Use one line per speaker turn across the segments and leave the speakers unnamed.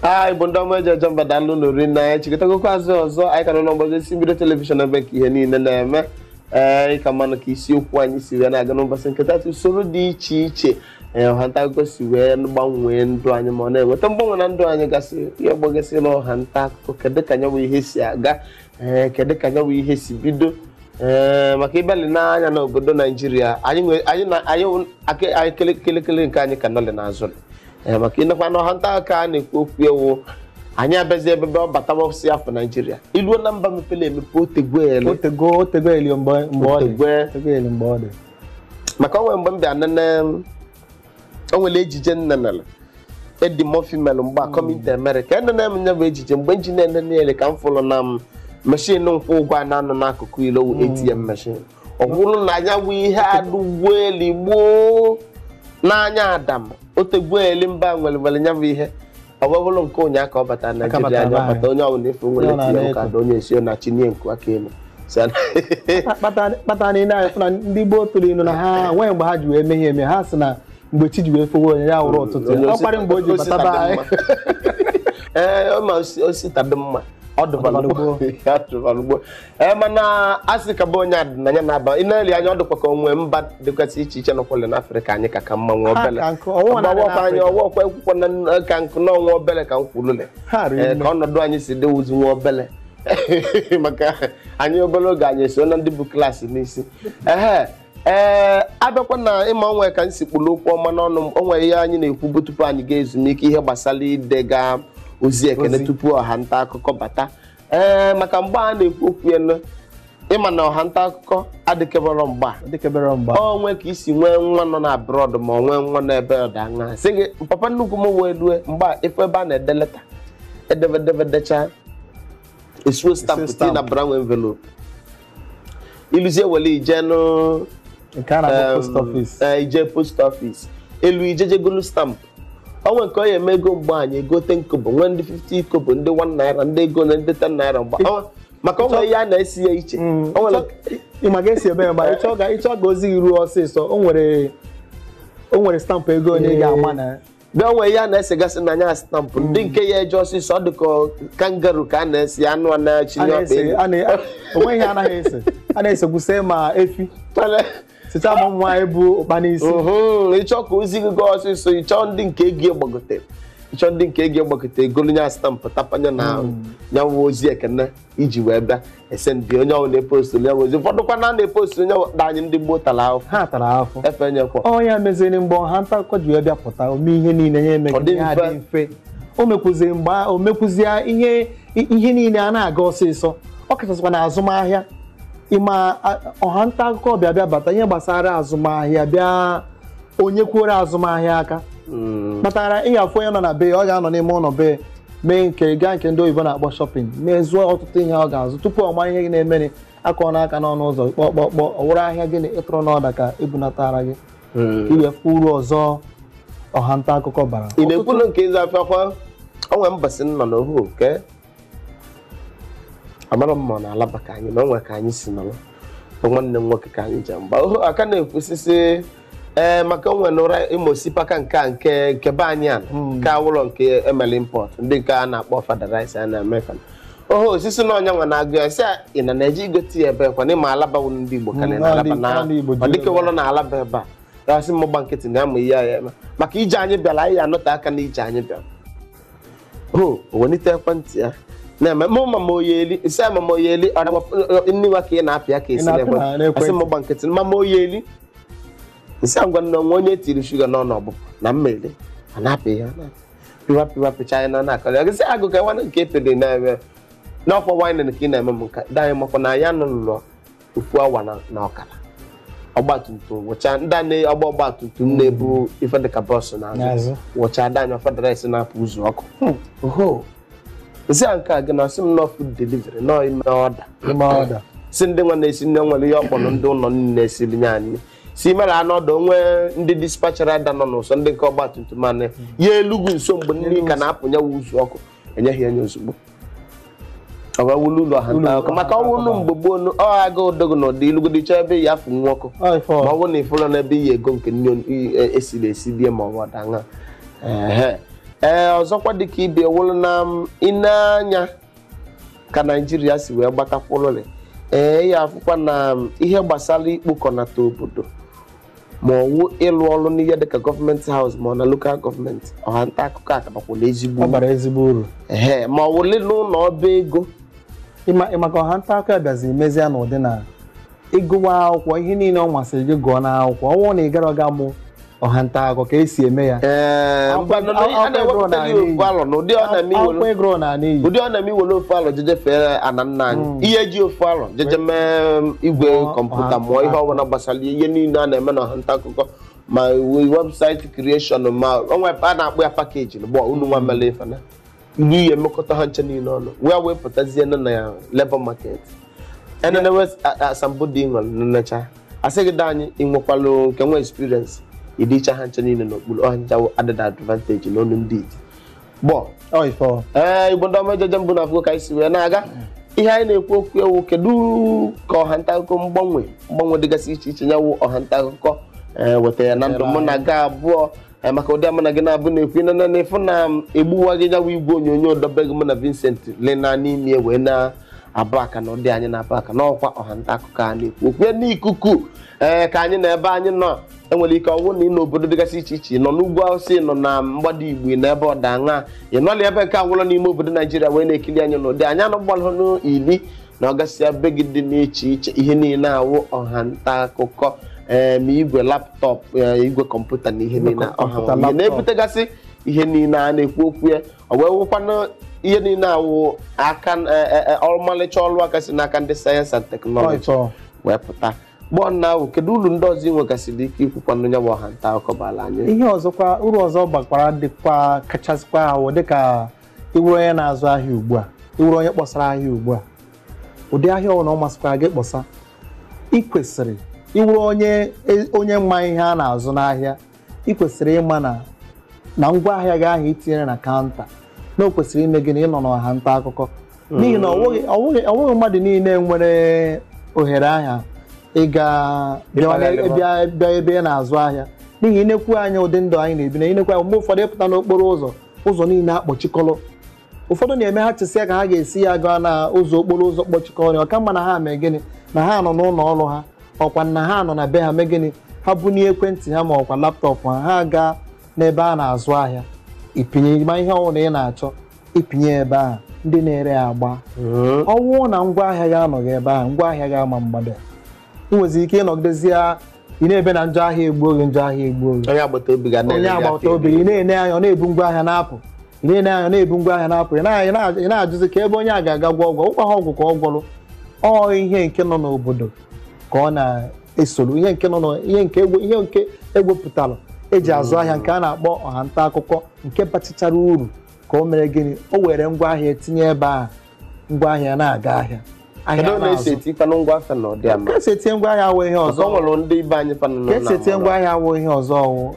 a igbo ndị ọma e ji eje mba daalụ nụ rinne anyị chikọtagokwa azụ ọzọ anyị ka nọ n'ọgbọzi isi mbido telivishọn ebe ka ihe niile na-eme ee ị ka manụ ka isiokwu anyị si wee na-aga n'ụbọchị nke taata usoro dị iche iche ee ọha nta akụkọ si wee na-agbanwe ndụ anyị ma ọ na-enweta mgbanwe na ndụ anyị gasị ya gbagesi na ọha nta akụkọ kedu ka nya bụ ihe si aga ee kedu ka ya bụ ihe si bido ee maka ị bịa lee anya n'obodo naijiria anyị nwe- anyị na anyị wụ- ake- anyị kele- kelekele nke anyị ka nọlị n'azụ ee maka ị nekwanụ ọha nta akụkọ a na-ekwu okwu ewu anyị abịazi ebe ọ batawasị afọ naijiria i luo na mba mepere emepe otegwele otego otego eli o mgbe mgbe ọ dị Otegwe. otego eli mgbe ọ dị maka o nwe mgbe m bịa nene o nwere ejije m nenere Eddie Murphy mere mgbe Coming to America enene m nya bụ ejije mgbe m ji na-enenelị ka m fụrụ na meshin nkwụ ụgwọ a na-anọ n'akụkụ ilo wụ ATM meshin ọ bụrụ na nya bụ ihe adịgwo eli gboo n'anya adam otegwo eli mgbe ha nwere nwere ya bụ ihe ọ bụ bụrụ nke ụnyaahụ ka ọ bata na Naijiria anyị a ọ bata onye ọbụla ife nwere Ihe ọ tinye na-ana ụka na onye esi na chinye nku aka elu Si ya na-
kpata kpata na ile anyị fụ na ndị gboo tụrụ ilu na ha nwee mgbe ha ji wee mee ihe eme ha sị na mgbe chi ji wee fowe onye ya wụrụ ụtụtụ Onye ya ọ osi- kwarị mgbe o ji bata be anyị
ee ọ ma osi- osi taa dị mma ọ dịbara gboo. Ya dịbara gboo. ee mana a sị ka bụ onye adịnanya na-aba ị na-ele anya ọ dịkwa ka o nwe mba dịkwasị iche iche nọkwale n'afrịka anyị ka ka mma nwa Ha obele ka nkụ, ọnwụ na-adị ọgbawakwa anyị n'Afrịka. ọgbakwa ekwukwa na n- ka nkụ na ọnwa obele ka m kwulule Ha riri Ee, nne. ka ọnọdụ anyị si dịwuzi nwa obele maka anyị obere oge anyị eso na ndị bu klaasị n'isi ehe ee abịakwa na ị ma o nwe ka m si kpụrụ okwu ọma n'ọnụ m o nwere ihe anyị na-ekwubu tupu anyị gaa ezumike ihe gbasara idega ozi ekene tupu ọha nta akụkọ bata ee maka mgbe a na-ekwu okwu ya nụ, ị ma na ọha nta akụkọ adịkebere mgbe ahụ o nwee ka i si nwee nwa nọ na abroad ma ọ nwee nwa n'ebe ọ dị anya sị gị papa nnukwu m wee rue mgbe a ị fụ ebe a na-ede leta edeve edeve edechaa esuo stampụ tii na brown envelope i luzie wele ije nụ nke a na-akpọ post office ee, ije post office elu i jee je golu stampụ o nwe nke onye eme ego mgbe anyị ego 10 kobo nwee ndị 50 kobo ndị 1 naira ndị ego na ndị 10 naira mgbe Ọ- maka o nwe ihe a na-ese ya iche Mm, O nwere- ị
ma ga-esi ebe ya mgbe ị chọ ka ị chọ ka ozi gị ruo ọsịsọ o nwere o nwere stampụ ego onye ị ga-ama na bịa o nwe ihe
a na-esegasị na nya stampụ ndị nke ya eje ọsịsọ ọ dịka kangaroo ka a na-ese anụ a a na-achịnye ọkpa na-ese elu a na-
o nweghị ihe a naghị ese a na-esekwuse ma efi Tale- site ama nwaanyị bu ụkpa n'isi ị chọọ ka
ozi gị gaa ọsịsọ ị chọọ ndị nke ego gbagote ị chọọ ndị nke ego gbagote i golu nya stampụ tapanye na nya nwụ hmm. ozi ekene iji wee bịa esendị onye ọwụna epostu nya ozi ụfọdụkwa na na-epostu onye di anyị ndị gboo tara ahụhụ ha tara ahụhụ
efe nyekwa ọ
nya meziri
mgbe ọha nta akụkọ ji wee bịa pụta o mee ihe niile ya eme dị mfe o mekwuziri mgbe o mekwuzie ihe ihe niile a na-aga ọsịsọ ọ kachasịkwa na azụmahịa ị ma ọha nta akụkọ bịa bịa bata ihe gbasara azụmahịa bịa o nyekwuoro azụmahịa aka hmm. kpatara ị ga-afụ onye nọ na be ya ọ ga-anọ n'ime ụlọ be ya mee nke gaa nke ndị oyibo na-akpọ shopping mee zụọ ọtụtụ ihe ọ ga-azụ tupu ọ mara ihe na-emere a kụọ nya aka n'ọnụ ụzọ kpọkpọkpọ ọ wụrụ ahịa gị nị ị tụrụ n'order ka e bunatara gị hmm. i wee fụ uru ọzọ ọha nta akụkọ bara ị na-ekwulu nke ịzụ afịa
kwa o nwe mbọsị nọ n'ohu nke amara m ma ọ na Alaba ka anyị nọ o nwe ka anyị si nọrọ bụ nwanne m nwoke ka anyị ji mgba oho aka na-ekwusịsị ee maka onwe na ụra ị ma osikapa nke a nke nke be anyị a nke awụlọ nke e melu import ndị nke a na-akpọ Ofada rice a na-eme fa oho osisi na ọ nya nwa na-agụ ya sị ị na na-eje igote ya ebee kwa na ị ma Alaba wụ ndị Igbo ka na Alaba na ọ dịka ọ wụrọ na Alaba ebe a a sị mụ gba nkịtị na-amụ ihe ya-eme maka ije anyị bịara anyị anọtee aka na ije anyị bịara o wee welite ekwentị ya na-eme mụ mama Oyeli isi a mama Oyeli ọ na- nni nwa ka ị na-apịa ka esi Ị na-apịa na- n'ekwentị a sị m gba nkịtị mama Oyeli isi ngwa nni o nwe onye tiri shuga n'ọnụ ọbụ na mmiri a na-apị ya na pịwa pịwa pịcha anyị na na-akọrọ ya gist agụ ka nwanne nke pịrị na-eme n'ọkwa wine ka ị na-eme m nka di anyị makwa na ya nụlụlọ ofu awa na na ọkara ọgbatumtum wụcha ndị a na-agba ọgbatumtum na-ebu ife dịka box n'azụ N'azụ. wụcha di anyị Ofada rice na-apụ uzu ọkụ oho m sị ya nke a gịnị ọ sị m na ọ food delivery na i mee order i mee order si ndị nwa na-esi nni nwere ihe ọ kpọrọ ndị ụlọ nni e siri nye anyị si mere anọdụ o nwe ndị dispatch rider nọ n'ụsọ ndị nke ọgbatumtum e nye ya e lugo nso mgbe nri ka na-apụnye wa uzu ọkụ e nye gị ya nye ozugbo ọ ga-awụlụ ulu ọha nta akụkọ maka ọ wụlụ mgbe gboo nu- ọ ga-adịgo na ụdị i lugodi chọọ ebe ị ya-afụ nwa ọkụ Ọ ife ọ. ma ọ bụrụ na ị fụrụ na ebe ị ya-ego nke nni i- e- e siri esi debe ma ọ bụ order nya Ehe. ee ọzọkwa dịka ebe ọ wụrụ na m, ị nee anya ka Naijiria si wee gbatakwụrụrị ị ya-afụkwa na m, ihe gbasara ikpokọnata obodo ma ọ wụ ịlụ ọrụ n'ihe dịka government house ma ọ na local government ọha nta akụkọ akabakwala ezigbo uru. bara ezigbo uru Ehe, ma ọ wụlụ n'ụlọ ọba ego ị ma maka
ọha nta akụkọ ya bịazi mezie n'ụdị na ị gụwa akwụkwọ ihe niile ọ masịrị gị gụọ n'akwụkwọ ọ bụrụ na ị garọ ga mụọ ọha nta akụkọ ka esi eme ya Ee, Akwụkwọ- ngwanụ, na- akwụkwọ a na-ewepụta ego gị n'iyi. ofu alọ na ụdị ọ
na-eme akwụkwọ i were ị gụrụ na n'iyi ụdị ọ na-eme i were ofu alọ je jee fee ana nna anyị ihe ji ofu alọ jeje mee um, igwe Mụọ- kọmputa ha- mụọ ihe ha- ọbụla gbasara ihe niile a na-eme na ọha nta akụkọ ma we- website creation ma onwe a na-akpọ ya package na gbọ unu nwa mere ife na ilu ihe emekọta ha ncha niile ọnụ wee wee pụtazie na na ya labour market e nenewe asambodo nwere nnecha asị gị da anyị ịnwekwalụ nke nwe experience ịdịcha ha ncha niile n'okpuru ọ ha ncha wụ added advantage n'ọnụ ndị iti bọ ee igbo ndị ọma echiche m bụ na afụgo ka anyị si wee na-aga ihe anyị na-ekwu okwu ya wụ kedu ka ọha nta akụkọ mgbanwe mgbanwe dịgasị iche iche nya wụ ọha nta akụkọ e, weta ya na ndụ mụ na gị abụọ e, maka ụdị a mụ na gị na-abụ na-ekwu na na ịfụ na egbuwa gị nya wụ igwe onyonyo dị be gị mụ na Vincent lena n'ime wee na abụ aka na ụdị anyị na-abụ aka n'ọkwa ọha nta akụkọ a na-ekwu okwu n'ikuku ee ka anyị nọ ebe anyị nọ enwere ike ọ wụ na ị nọ n'obodo dịgasị iche iche nọ n'ugwu awụsa nọ na mgbada igbo na ebe ọdịda anyanwụ na ebe nke ọwụla n'ime obodo naijiria wee na-ekiri anyị n'ụdị anyị anọgbalụnụ ili na ọgasịa be gị dị iche iche ihe niile a wụ ọha nta akụkọ ee ma igwe laptop ee, igwe kọmputa na ihe niile ọha kọmputa, nwa. Ihe laptop. na-ebutegasị ihe niile a na-ekwu okwu ya ọ wee wụkwanụ ihe niile a wụ aka e- e- e- ọmalịcha ọrụ aka si n'aka ndị science and technology Ọịtọ. wee pụta gbọọ nna ahụ kedu uru ndị ọzọ ị nwegasịrị ike ikwukwanụ nya bụ ọha nta akụkọ bara anyị ihe ọzọkwa uru
ọzọ bakwara dịkwa kachasịkwa ha wụ dịka ị wụrụ onye na-azụ ahịa ugbu a ị wụrụ onye kpọsara ahịa ugbu a ụdị ahịa ọbụla ọ masịkwara gị kpọsa ị kwesịrị ịwụrụ onye onye ma ihe a na-azụ n'ahịa ị kwesịrị ịma na na ngwa ahịa gị ahụ itinyere na counter na o kwesịrị ime gịnị ịnọ n'ọha nta akụkọ n'ihi na ọ nweghị- ọ nweghị ọ nweghị mmadụ niile nwere ohere ahụ ịga bịa Ịkpagharị n'e- bịa bịa ebe ị na-azụ ahịa n'ihi inekwu anya ụdị ndụ anyị na-ebi na inekwu anya mgbe ụfọdụ ịpụta n'okporo ụzọ ụzọ niile akpọchikọrọ ụfọdụ na-eme ha chesịa ka ha ga-esi ya gaa na ụzọ okporo ụzọ kpọchikọrọ ọ ka mma na ha mee gịnị na ha nọ n'ụlọ ọrụ ha ọkwa na ha nọ na be ha mee gịnị ha bunye ekwentị ha ma ọkwa laptọpụ ha ha gaa n'ebe a na-azụ ahịa ipinye ma ihe ọbụla ị na-achọ ipinye ebe ahụ ndị na-ere ya agba ọ bụrụ na ngwa ahịa gị anọghị ebe ahụ ngwa ahịa gị ama mgbada ị nweziri ike ịnọgidezie ị na-ebe na njọ ahịa egbuo gị njọ ahịa egbuo gị onye agbata
obi gị na-ele onye gị agbata afọ obi iri. ị
na-ene anya ọ na-ebu ngwa ahịa na-apụ ị na-ene anya na-ebu ngwa ahịa na-apụ ya na- na- ị na-ajụzi ka ebe onye a ga-aga gwọọ ọgwụ ọkwaha ọgwụ ka ọ gwọrọ ọ ihe nke nọ n'obodo ka ọ na-esoro ihe nke nọ na- ihe nke egwe- ihe nke egwepụtara eji azụ ahịa nke a na-akpọ ọha nta akụkọ nke bachachara uru ka o mere gịnị o were ngwa ahịa ya tinye ebe ahụ ngwa ahịa na-aga ahịa ahịa kedu na na-azụ. esi
eti fanụ ngwa afịa na ọdị ama ka esi etinye
ngwa ahịa awụ ihe ọzọ ọzọ nwere ndị ibe anyị fanụ nọ ka na esi
etinye ngwa ahịa awụ ihe
ọzọ ọwụ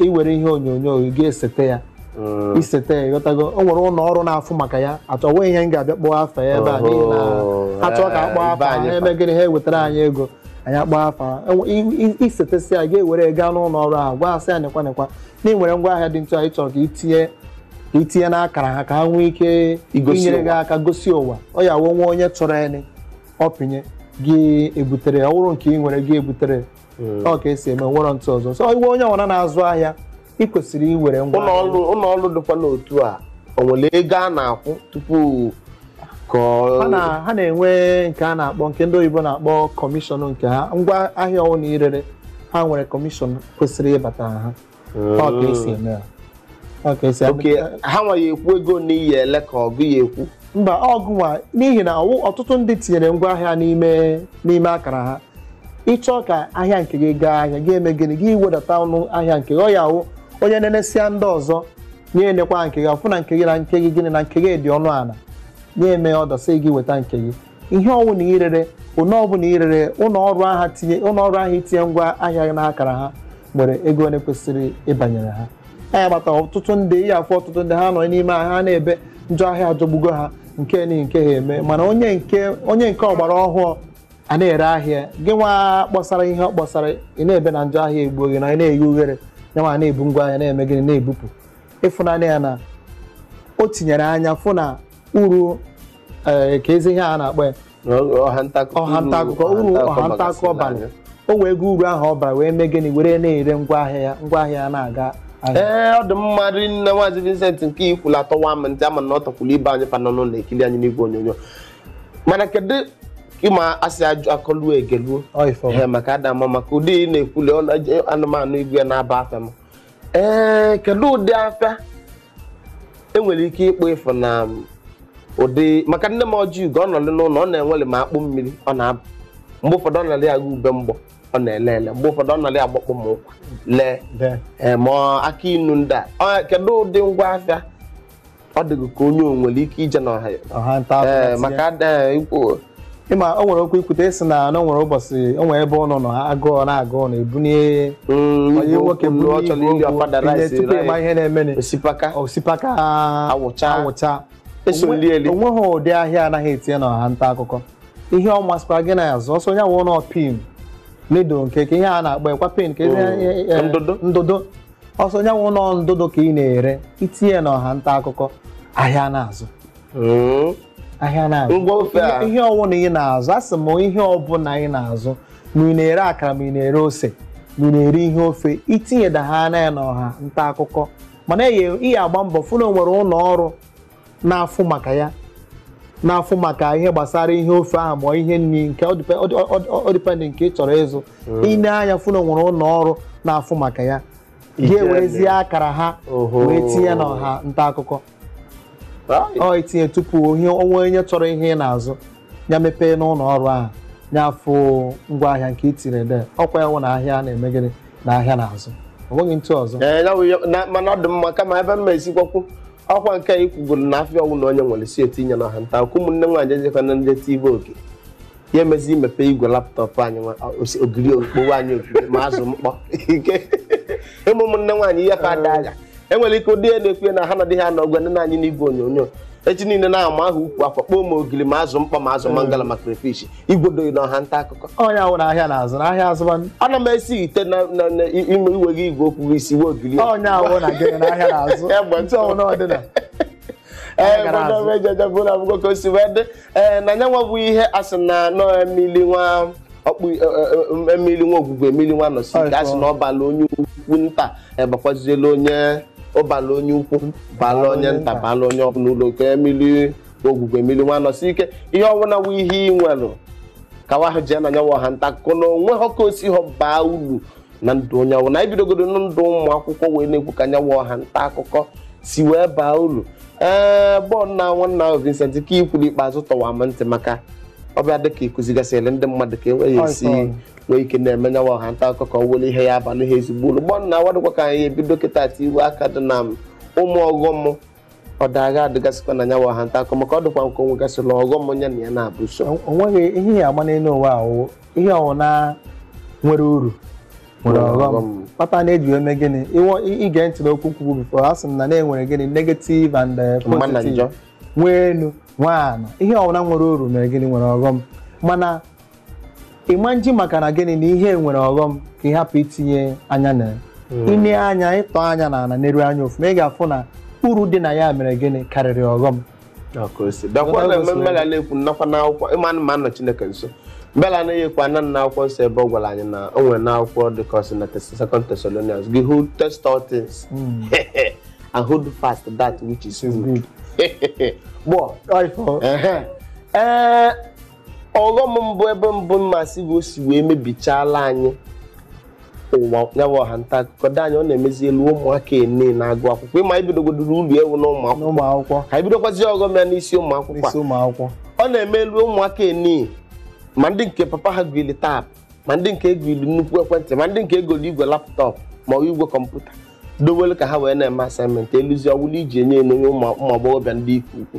iwere ihe onyonyo ị ga-esete ya Mm. isete ya ịghọtago o nwere ụlọ ọrụ na-afụ maka ya achọghị m ihe m ga-abịa kpọọ afa ya ebe a n'ihi na Oho, ha chọọ ka a kpọọ eh, afa ibe ha anyị eme gịnị ha ewetara anyị ego anyị akpọọ afa ha. Enwe- i- i- isetesịa ya gị ewere ya gaa n'ụlọ ọrụ ahụ gwa ha sị ya nekwa nekwa na ị nwere ngwa ahịa dị ntu a ị chọrọ ka itinye itinye n'akara ha ka ha nwee ike Igosi inyere gị ụwa. aka gosi ụwa ọ ya wụ nwa onye chọrọni ọpịnye gị ebutere ya. ọ wụrụ nke ị nwere gị ebutere ọ ka esi eme nwere ntụ ọzọ so ị wụ onye ọbụla na-azụ ahịa ị kwesịrị iwere ngwa ụlọ ọrụ ụlọ ọrụ
dịkwa n'otu a o nwere ego a na-akwụ tupu ka ọ-
ha na- ha na-enwe nke a na-akpọ nke ndị oyibo na-akpọ kọmishọn nke ha ngwa ahịa ọwụna irere ha nwere kọmishọn kwesịrị ịbata ha ọ ka esi eme ya ọ ka esi okay eme
ha nwa ya-ekwu ego one ị ya-ele ka ọ gị ya-ekwu mba ọ gị nwa
n'ihi na ọwụ- ọtụtụ ndị tinyere ngwa ahịa n'ime n'ime akara ha ịchọọ ka ahịa nke gị gaa ahịa gị eme gịnị gị wedata ọnụ ahịa nke gị ọ ya wụ onye nenesịa ndị ọzọ nye enekwa nke gị ọfụ na nke gị na nke gị gịnị na nke gị dị ọnụ ala nye eme order sị gị weta nke gị ihe ọbụla irere ụlọ ọbụla irere ụlọ ọrụ ahụ itinye ngwa ahịa gị n'akara ha nwere ego one kwesịrị ịbanyere ha ọ ya kpata ọtụtụ ndị ị ya-afụ ọtụtụ ndị ha nọ n'ime ahịa ha na-ebe njọ ahịa ajọgbugo ha nke na nke a eme mana onye nke onye nke ọgbara ọhụụ a na-ere ahịa gị nwa kpọsara ihe ọ kpọsara ị na-ebe na njọ ahịa egbuo gị na ị na-eghe ughere ya nwa na-ebu ngwa ahịa na-eme gịnị na-ebupụ ịfụ na onye a na o tinyere anya fụ na uru ee, kezi ihe a na-akpọ ya ọha ntakụkọ ọha nta akụkọ uru ọha nta akụkọ bara o wego uru ahụ ọ bara wee mee gịnị were na-ere ngwa ahịa ya ngwa ahịa ya na-aga ahịa. ee ọ dị
mma rinne Maazị Vincent nke ikwulu atọwa m ntị ama m na ọ tọkwulu ibe anyị fa nọ n'ụlọ ekiri anyị n'igwe onyonyo mana kedu ịma asị ajụ akọluo egeluo Ọ ife ọ. Ee, maka ada mma maka ụdị ị na-ekwuli ọ na- anụmanụ igwe na-aba afịa m ee kedu ụdị afịa enwere ike ịkpọ ịfụ na ụdị maka nne m Ọjịugo ọ nọlị n'ụlọ ọ na-enwere ma akpụ mmiri ọ na-abụ mgbe ụfọdụ ọ nọlị agụ ube mgbọ ọ na-ele ele mgbe ụfọdụ ọ nọlị agbakpọ ma ụkwa lee ma akị inu ndị a kedu ụdị ngwa afịa ọ dịghị ka onye o nwere ike ije n'ọha ya ọha nta akụkọ ee tinye. maka ada ikwu ịma o nwere
okwu ikwute ịsị na na o nwere ụbọchị o nwere ebe unu nọ agụụ na-agụ unu ebunye onye nwoke buru ọ chọrọ iri Ofada rice tupu ịma ihe na-emeni osipaka osipaka Awụcha. awụcha eso Onwe- nri eli onweghị ụdị ahịa anaghị etinye na ọha nta akụkọ ihe ọ masịkwara gị na-azụ ọ sọ nye wụ nọ pin needle nke ka ihe a na-akpa ekwa pin ka ihe- Mm. ihe- ihe- Ndụdụ. ndụdụ ọ sọ nya wụlụ ndụdụ ka ị na-ere i tinye na ọha nta akụkọ ahịa na-azụ hmm? ahịa na-azụ ihe ọwụna ị na-azụ a sị m ihe ọbụla ị na-azụ ma ị na-ere akara ma ị na-ere ose ma ị na-ere ihe ofe i tinye da ha na ya na ọha nta akụkọ mana ị ya-agba mbọ fụ na o nwere ụlọ ọrụ na-afụ maka ya na-afụ maka ihe gbasara ihe ofe ahụ ma ihe nri nke ọ dịpendị nke ị chọrọ ịzụ i nee anya fụ na o nwere ụlọ ọrụ na-afụ maka ya gị ewerezie akara ha Oho. wee tinye na ọha nta akụkọ Right. ọ i tinye tupu o nwee onye chọrọ ihe ị na-azụ ya mepee n'ụlọ ọrụ ahụ ya afụ ngwaahịa nke i tire de ọ kwa ya wụ na ahịa na-eme gịnị na ahịa na-azụ o nweghị etu ọzọ Ee, ya wụ ya- na- mana ọ
dị mma kama ebe m ma esikwakwu ọ kwa nke anyị kwuburu na afịa ọwụna onye nwere sị e tinye na ọha nta akụkọ ụmụnne nwaanyị ejekwa na ndị tiibe oge ya emezi imepe igwe laptọpụ anyị nwa- o- osi- ogiri okpei anyị ogiri ma azụ mkpọ ike ịmụ ụmụnne nwaanyị ihe fa ada agha enwere ike ụdị ya na-ekwu ya na ha nọdịghị anọ gwa nne anyị n'igwe onyonyo echi niile na-ama aha ukwu akwa kpọọ ma ogiri ma azụ mkpọ ma azụ mangala ma crayfish igwodoghị na ọha nta akụkọ ọ nya wụ na ahịa na-azụ
na ahịa azụba ana m esite
na na- na ime igwe gị igwe okwu gị isi wee ogiri ọ nya wụ na gị
na ahịa na-azụ Egbe etu ọwụna ọ dịna ee gara azụ. gbọdọ ejeje bụ na abụgo ka o
si wee dị ee na nyanwa bụ ihe a sị na nọ emili nwa ọkpụ e- e- e- emili nwa ogwugwu emili nwa nọsi ike a sị na ọ bala onye ukwu nta ebakwaziela onye ọ bala onye ukwu bala onye nta bala onye ọbụla ulu ka emili ogwugwu emili nwa nọsi ike ihe ọbụla wụ ihe ị nwelụ ka nwa ahụ jee na nyawa ọha nta akụkọ na o nweha ka o siha baa ulu na ndụ onye ọbụla anyị bidogodo na ndụ ụmụ akwụkwọ wee na-ekwu ka nyawa ọha nta akụkọ si wee baa ulu ee bọọlụ na nwanna ahụ Vincent ka i kwuru ikpeazụ tọwa m ntị maka ọ bịa dị ka ị kuzigasịrị ndị mmadụ ka enweghị esi nwee ike na-eme nyawa ọha nta akụkọ ka ọ wụrụ ihe ya-abalị ha ezigbo ulu bọọlụ na awadịkwa ka anyị ebido kịta etiiwe aka dị na ụmụ ọghọm ọ daga adịgasịkwa na nyawa ọha nta akụkọ maka ọ dịkwa nke o nwegasịla ọghọm onye na ya na-abụ so o nweghị ihe ya agba
n'elu ụwa ahụ ihe ọwụna nwere uru nwere Nwere ọghọm ọghọm. kpata na-eji wee mee gịnị Ịwọ- ị- ige ntị n'okwu m kwugo before a sị m na na-enwere gịnị negative and eh, mma na positive njọ nwee enu nwee ana ihe ọbụla nwere uru mere gịnị nwere ọghọm mana ị ma-eji maka na gịnị na ihe nwere ọghọm ka ị hapụ itinye anya na ya i nee anya ị tọọ anya na ala neruo anya ọfụma ị ga-afụ na uru dị na ya mere gịnị karịrị ọghọm dakwa na mme mbela
na-ekwu nnakwa n'akwụkwọ ị ma na ma nọ Chineke nso mbela anaghị ekwu ana na akwụkwọ nsọ ebe ọ gwara anyị na o nwere n'akwụkwọ dị ka ọ sị na Tes- second Thessalonians gị wee test all things and hold fast that which is good Gbọ. Ọ ifo. Ehe. ee ọghọm mbụ ebe mbụ m ma-asị bụ o si wee mebichala anyị ụwa nya wụ ọha nta akụkọ di anyị ọ na-emezi elu ụmụaka nine na-agụ akwụkwọ ịma ibidogodoro ulu ewu na ụmụ akwụkwọ n'ụmụ akwụkwọ ka ibidokwazi ọghọm ya n'isi ụmụ akwụkwọ a. n'isi ụmụ akwụkwọ ọ na-eme elu ụmụaka nine ma ndị nke papa ha goli tab ma ndị nke e goli nnukwu ekwentị ma ndị nke e golu igwe laptop ma ọ bụ igwe kọmputa dowelu ka ha wee na-eme assignment e luzi ọ wụlụ iji ene ene ụmụ ụmụ agbọghọbịa ndị ike ukwu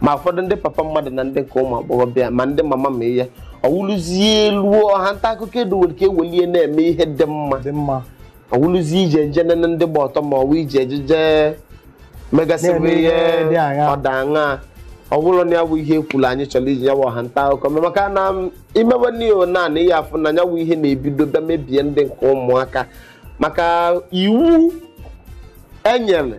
ma ụfọdụ ndị papa mmadụ na ndị nke ụmụ agbọghọbịa ma ndị mama ma ihe ọ wụlụzie elu ọha nta akụkọ edo nwere ike ewelie na-eme ihe dị mma dị mma ọ wụlụzie ije nje nene ndị gba ọtọ ma ọ wụ ije eje je megasịbụ na-eme ihe ihe dị aṅaa. ọda aṅa ọ wụlọ nya bụ ihe e kwuru anyị chọrọ iji ya bụ ọha nta akụkọ mee maka na i mewe n'ihe naanị ihe afụ nya bụ ihe na-ebido bịa mebie ndị nke ụmụaka maka iwu e nyere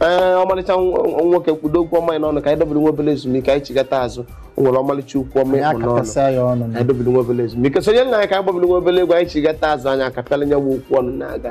ee ọmalịcha nwoke kpụdo okwu ọma anyị n'ọnụ ka anyị dobere nwa obele ezumike anyị chighata azụ o nwere ọmalịcha okwu ọma ị kpụ n'ọnụ anyị dobere nwa obele ezumike sonyeli anyị ka anyị gbabere nwa obele egwu anyị chighata azụ anyị akapịala nya wụ okwu ọnụ na-aga